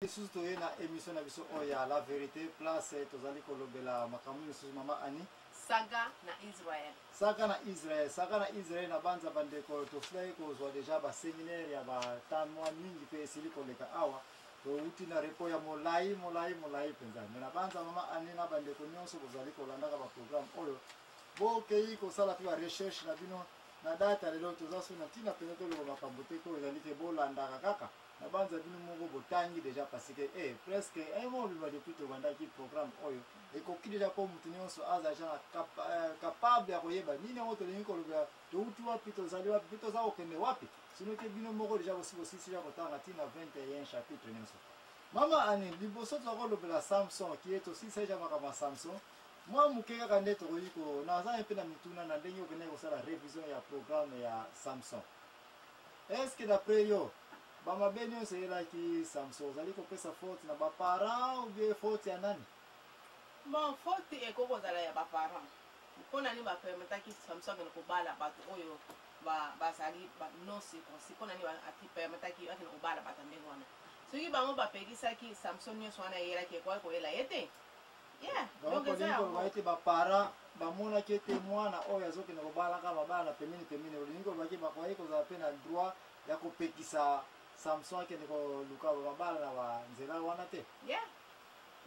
lisusu toye na émission na biso oyo ya la vérité place eh, tozali kolobela makambo misusu mama ani saga na israel saga na israel saga na israel na banza bandeko tosilaki kozwa deja baseminaire ya batanwa mingi mpe esili koleka awa towuti na repo ya molai molai molai mpenza me na banza mama ani na bandeko nyonso bozali kolandaka baprogramme oyo bokei kosala mpe barecherche na bino na data lelo toza so na ntina mpenza toloba makambo te mpo ezali te bolandaka kaka nabanza bino moko botangi deja parce que eh, presque eh, mobima depuis tobandaki programme oyo ekoki deja mpo motu nyonso aza jean cap, eh, capable ya koyeba nini yango tolingi kolobela touti wapi tozali wapi mpe toza kokende wapi sino te bino moko deja bosi bosisi ya kotanga ntina 21 chapitre nyonso mama ane liboso toza kolobela samson kie tosisa deja makambo ya samson mwa moke kaka nde tokoki ko naza mpe na mituna na ndenge okendaki kosala révision ya programme ya samson Est-ce que d'après yo ba mabe nionso eyelaki Samson ozali kopesa faute na ba parents ou bien faute ya nani? Bon, faute ekoki kozala ya ba parents. Mpo na nini ba permetaki Samson akende kobala bato oyo ba bazali ba non circoncis? Mpo na nini ba ati permetaki akende kobala bato ya ndenge wana? Soki bango bapekisaki Samson nionso wana eyelaki ekokaki koyela ye te? Yeah, donc donc eza olingi yango. koloba ete baparent bamonaki ete mwana oyo azokende kobalaka mabala na pembeni pembeni olingi koloba ke bakoki kozala mpe na droit ya kopekisa samson akende koluka babala na banzela wana te Yeah.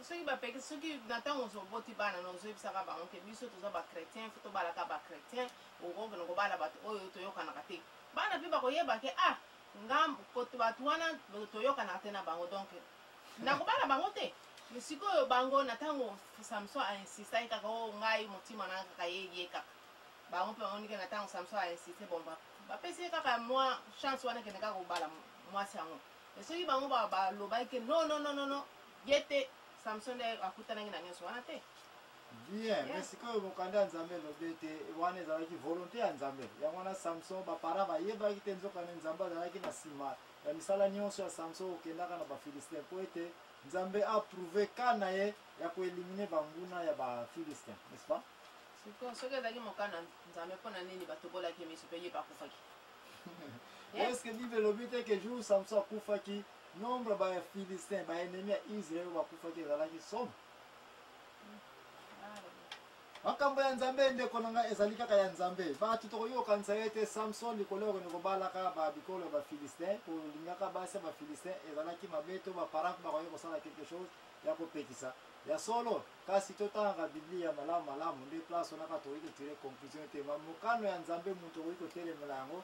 soki bapekisi soki na ntango ozo- oboti bana na ozoyebisaka bango ke biso toza bachrétien fo tobalaka bachrétien okokende kobala bato oyo toyokanaka te bana mpe bakoyeba ke ah nga koto bato wana toyokanaka te na bango donc nakobala bango te sikoyo bango na ntango samson ainsistaki kaka o oh, ngai motima na kaka ye ye kaka bango mpe bamoni ke na ntango samson ainsiste bon bapesi ye kaka mwa chance wana kende kaka kobala mwasi yango e soki bango balobaki ke non non non non ye te samson nde akutanaki na nyonso wana te bien mais sikoyo mokanda ya nzambe elobi ete wana ezalaki volonté ya nzambe yango wana samson bapara bayebaki te nzokande nzambe azalaki na nsima Na misala nionso ya Samson okendaka na ba Philistins po ete Nzambe a prouver cas na ye ya ko eliminer ba nguna ya ba Philistins, n'est-ce pas? Sikoyo soki ezalaki mokano ya Nzambe po na nini batobolaki ye miso pe ye pe akufaki? Hein? Est-ce que Bible elobi te que jour Samson akufaki nombre ya ba Philistins, ba ennemis ya Israël oyo bakufaki ezalaki somo? Ah, makambo ya nzambe ndeko na ngai ezali kaka ya nzambe bato tokoki kokanisa ye te samson likolo yakoni kobalaka babikolo ya bafilistin kolingaka basi ya bafilistin ezalaki mabe to baparent bakoki kosala quelque chose ya kopekisa ya solo kasi totangaka biblia malamu malamu nde place wana kaka tokoki kotire conclusion te mamokano ya nzambe moto okoki kotelemela yango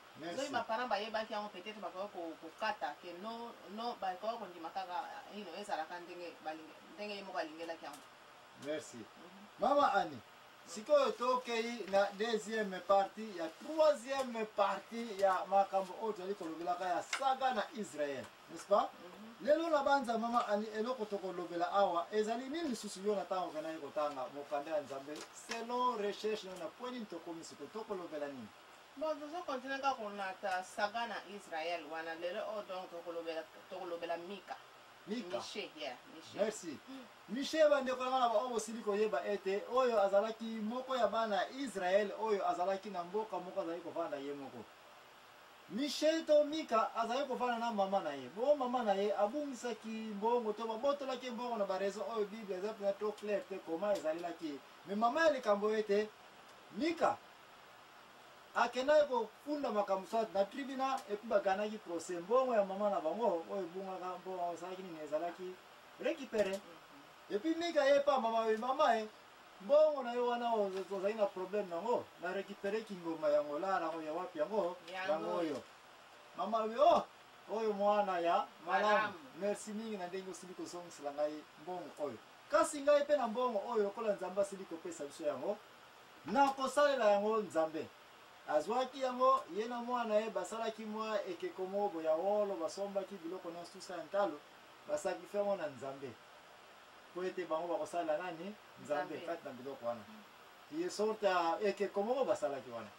Merci. Soki ba parents bayebaki yango peut-être bakoki ko- kokata ke no no bakoki kondima kaka you know, ezalaka ndenge balingi ndenge ye moko alingelaki yango. merci mama ani sikoyo tokei na deuxième partie ya troisième partie ya makambo oyo tozali kolobelaka ya saga na israel n'est-ce pas lelo nabanza mama ani eloko tokolobela awa ezali nini lisusu yo na ntango venaki kotanga mokanda ya nzambe selon recherche nayo na poi nini tokomi sikoyo tokolobela nini Bon tozo continuer kaka kolata saga na Israël wana lelo oyo donc tokolobela tokolobela Mika. Mika. Miche, yeah, Miche. Merci. Miche bandeko na bana baoyo bosili koyeba ete oyo azalaki moko ya bana ya Israël oyo azalaki na mboka moko azalaki kovanda ye moko. Miche to Mika azali kovanda na mama na ye. Bo mama na ye abungisaki mbongo to babotolaki mbongo na ba raison oyo Bible eza mpenza trop clair te koma ezalelaki ye. Mais mama ya likambo ete Mika akendaki kofunda makambo soit na tribunal epuis baganaki procès mbongo ya mama na bango oyo ebungaka mbongo osalaki nini ezalaki récupéré epuis mika ye pa mama oyo mama e mbongo na yo wana ozali na problème nango na récupéré kingomba ya ngola nango ya wapi yango yango oyo mama oyo oh, oyo mwana ya malamu merci mingi na ndenge osili kozongisela ngai mbongo oyo kasi ngai mpe na mbongo oyo lokola nzambe asili kopesa biso yango Na kosalela yango, Nzambe. Azuaki yango, ye na mwana na ye basalaki mwa ekeko moko boye ya wolo, basombaki biloko nionstusa ya ntalo, basakrifia yango na Nzambe, mpo ete bango bakosalela nani? Nzambe, kati na biloko wana. Ye sorte ya ekeko moko basalaki wana.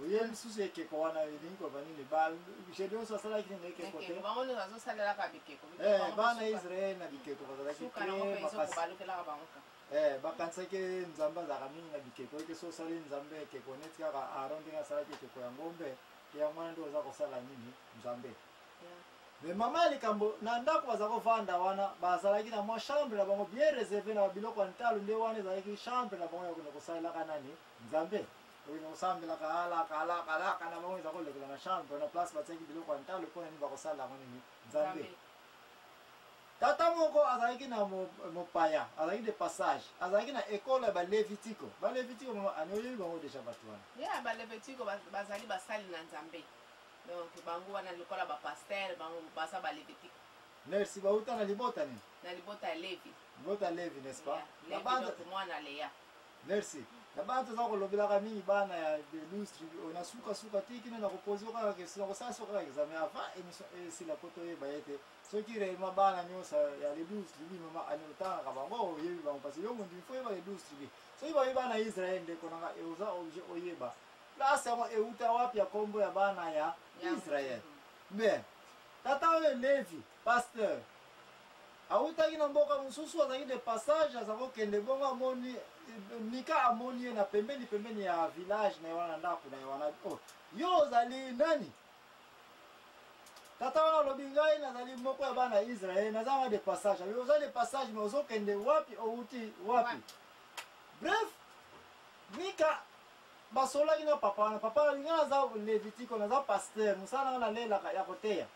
Oye lisusu ekeko wana elingi koloba nini? Ba Gedeon so asalaki nini ekeko te? Bango nde bazosalelaka bikeko. Eh, bana Israel na bikeko bazalaki te makasi. Eh, bakanisaki ke nzambe azalaka mingi na bikeko eke so osali nzambe ekeko neti kaka aron ndenge asalaki ekeko ya ngombe ke yango wana nde oza kosala nini nzambe me mama ya likambo na ndako baza kovanda wana bazalaki na mwa chambre na bango bien reserve na babiloko ya ntalo nde wana ezalaki chambre na bango ya kokende kosalelaka nani nzambe kokende kosambelaka alaka alaka alaka na bango eza kolekela na chambre na place batiaki biloko ya ntalo mpo na nini bakosalela yango nini nzambe Tata moko azalaki na mopaya, azalaki de passage, azalaki na ekolo ya Balevitiko. Balevitiko mama ani oyebi bango deja bato wana? Ya Balevitiko bazali basali na Nzambe, donc bango wana lokola bapastere bango baza Balevitiko. Merci, bauta na libota nini? Na libota ya Levi. Libota ya Levi, n'est-ce pas? Yeah. Levi, donc mwana Lea. Merci. Mm. na bana toza kolobelaka mingi bana ya de louis tribu oyo na sukasuka te kino na kopose yo kaka question nakosala so kaka examen avant émission esila mpo toyeba ye te soki reellement bana nyonso ya le 12 tribu mama otangaka bango oyebi bango parce yo mondimi fo oyeba le 12 tribu soki bayebi bana ya israel ndeko nanga oza objet oyeba place yango euta wapi ya nkombo ya bana ya israel bien tata oyo levi pasteur awutaki na mboka mosusu azalaki de passage aza kokende bongo amoni eh, mika amoni ye na pembeni pembeni ya village na ye wana ndako na ye wana oh, yo ozali nani tata wana alobi ngai nazali moko ya bana ya israele naza na de passage alobi oza de passage me ozokende wapi owuti wapi bref mika basololaki na papa wana papa alobi ngai naza levitiko naza paster mosala nanga nalelaka ya koteya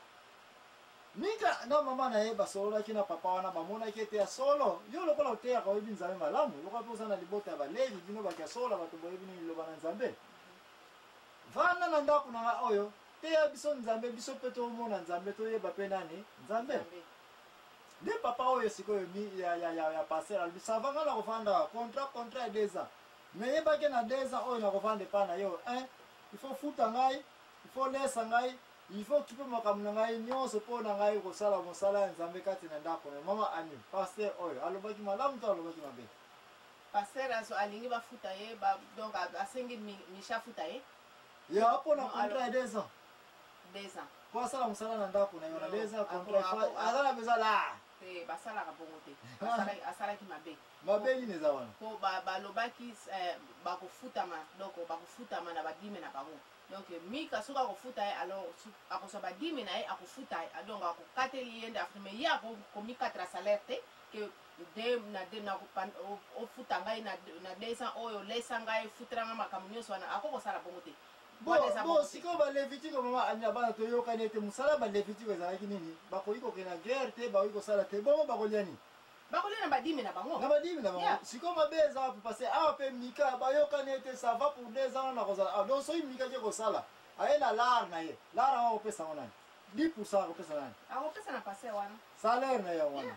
mika na mama na ye basololaki na papa wana bamonaki ete ya solo yo lokola oteyaka oyebi nzambe malamu lokola mpe oza na libota ya balevi bino bato ya solo bato boyebi nini liloba na nzambe Vanda na ndako na nga oyo, teya biso Nzambe, biso pe tomona Nzambe, toyeba pe nani Nzambe. Nzambe. Nde papa oyo sikoyo mi, ya, ya, ya, ya pasteur alobi sava ngai nakovanda awa contrat contrat ya deux ans mais yebaki na deux ans oyo nakovanda epai na yo un il faut futa ngai il faut lesa ngai il faut okipe makambo na ngai nyonso mpo na ngai kosala mosala ya nzambe kati na ndako na mama ani pasteur oyo alobaki malamu to alobaki mabe Pasteur azo alingi ba futa ye ba donc asengi Micha futa ye. Ya po na contrat deux ans. Deux ans. Po asala musala na ndako na yo na deux ans contrat fa azala besoin la. Te basala ka bongo te. Asala asala ki mabe. Mabe ni neza wana. Po ba ba lobaki eh, ba ko futa ma donc ba ko futa ma na ba dime na bango. Donc Mika soki ako futa ye alors ako sa ba dime na ye ako futa ye donc ako kateli yende afime ye ako komikatra salaire te que de na de na ofuta ngai na na 200 oyo lesa ngai futela ngai makambo nyonso wana ako kosala bongo te bo sikoyo balevitiko mama amina bana toyokani ete mosala ya balevitiko ezalaki nini bakoki kokenda guerre te bakoki kosala te bongo bakolia nini bakolia na badimi na bango na badimi na bango sikoyo mabe eza wapi parce awa mpe mika bayokani ete ça va pour deux ans na kozala awa ah, donc soki mika ke kosala aye na lar na ye lar yango akopesa yango nani 10 pourcent akopesa nani akopesa na paster wana salaire na ye wana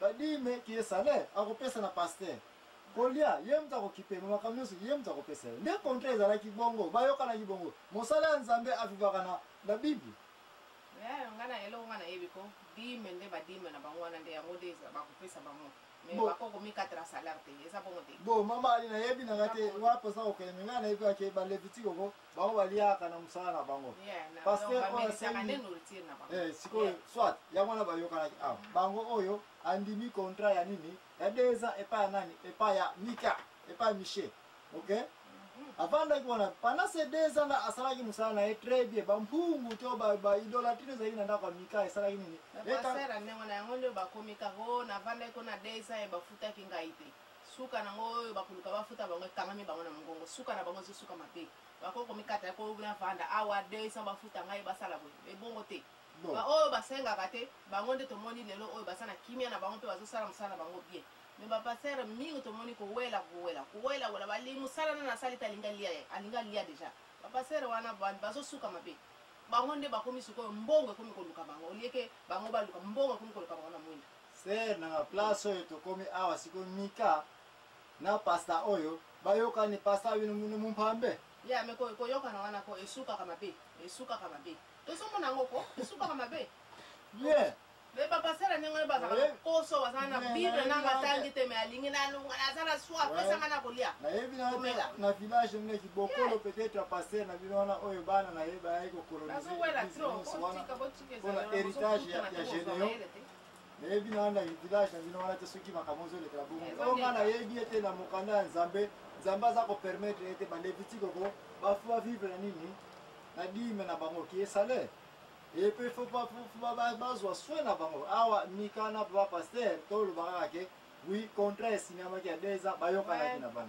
Ba dime ki ye salaire akopesa na pasteur. Kolia ye moto akokipe me makambo nyonso ye moto akopesa ye. Nde contrat ezalaki bongo, bayokanaki bongo. Mosala ya Nzambe a vivaka na na bible. Eeh nga na eloko nga nayebi ko dime nde ba dime na bango wana nde yango nde eza bakopesa bango mais Bon. bako komikatela salaire te eza bongo te Bon mama Ali nayebi na nga te Eza bongo. wapi oza kokende me nga nayebi kaka ke ba levitique oko bango baliaka na mosala na bango paster oyo asali eh, sikoyo soit yango wana bayokanaki awa ah, bango oyo andimi contrat ya nini ya deux ans epai ya nani epai ya mika epai ya michel ok mhm. avandaki wana pendant ces deux ans asalaki mosala na ye très bien bampungu to baidolatrie ezalaki na ndako ya mika esalaki nini yango nde bakomi kako navandaki kuna deux ans ye bafutaki ngai te Suka na ngo oyo bakoluka bafuta bango ekangami bango na mongongo suka na bango ezosuka mabe bakoki komikata yako na vanda awa 200 bafuta ngai basala boye ebongo te bon. baoyo basengaka te bango nde tomoni lelo oyo baza na kimia na bango mpe bazosala mosala bango bien me bapastere mingi tomoni kowela kowela kowela wela bali mosala nana asali te alinga lia ye alinga lia deja bapastere wana bazosuka mabe bango nde bakomi sikoyo mbongo ekomi koluka bango olieke bango baluka mbongo ekomi koluka bango na mwinda Sœur nanga place oyo tokomi awa siko Mika na pasta oyo bayokani pasta bino muno mumpambe. Ya me ko koyokana wana ko esukaka mabe esukaka mabe tozomona yango ko esukaka mabe bien me bapasela ndenge oyo bazalaka na poso bazala na bible nanga atangi te me alingi nalunga naza na swa apesanga na kolia nayebi naomela na village nde kibokolo peut-être pasteur na bino wana oyo bana na ye bayaki kokolonisewana mpona héritage ya généon nayebi na wana village na bino wana te soki makambo ozolekela bongo eh, oyo nga nayebi ete na mokanda ya nzambe nzambe aza kopermettre ete balevitike ko bafu bavivre na nini na dime na bango kie salaire epe fo bazwa soin na bango awa mika na papa paster tolobaka kaka ke wi contrat esinyamaki ya deux ans bayokanaki na bango